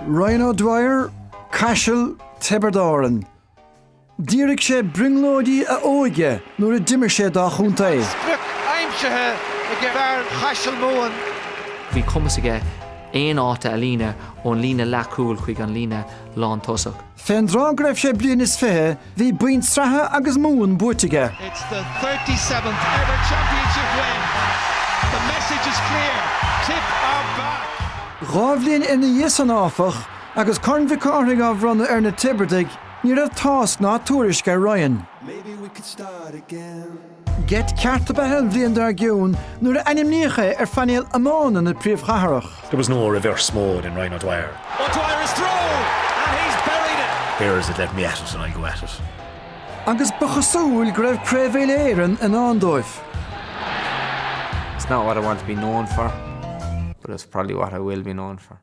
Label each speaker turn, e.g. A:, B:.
A: Ryan O'Dwyer, Caiseal, Tiobraid Árann. D'fhíoraigh sé brionglóidí a óige nuair a d'imir sé dá chontae. Sprioc
B: aimsithe ag fear Chaiseal Mumhan. Bhí cumas
C: aige aon áit a líonadh ón líne leathchúil chuig an líne lántosaigh. Fén dtráth go
A: raibh sé bliain is fiche, bhí boinn sraithe agus Mumhan buaite aige. It's the thirty
B: seventh ever championship win. The message is clear, Tipp are back! Dhá
A: bhliain ina dhiaidh san áfach, agus Corn Mhic Cárthaigh á bhronnadh ar na Tiobraidigh, ní raibh tásc ná tuairisc ar Ryan. Maybe we could
D: start again. Geit
A: ceart ab ea é an bhliain dár gcionn nuair a ainmníodh é ar phainéal iomána na príomhchathrach. There was no reverse
E: mode in Ryan O'Dwyer. O'Dwyer is through
B: and he's buried it. Here is it, let me at
E: it and I go at it. Agus
A: ba chosúil go raibh Craobh Uile-Éireann i ndán
F: dóibh. It's not what I want to be known for, but it's probably what I will be known for.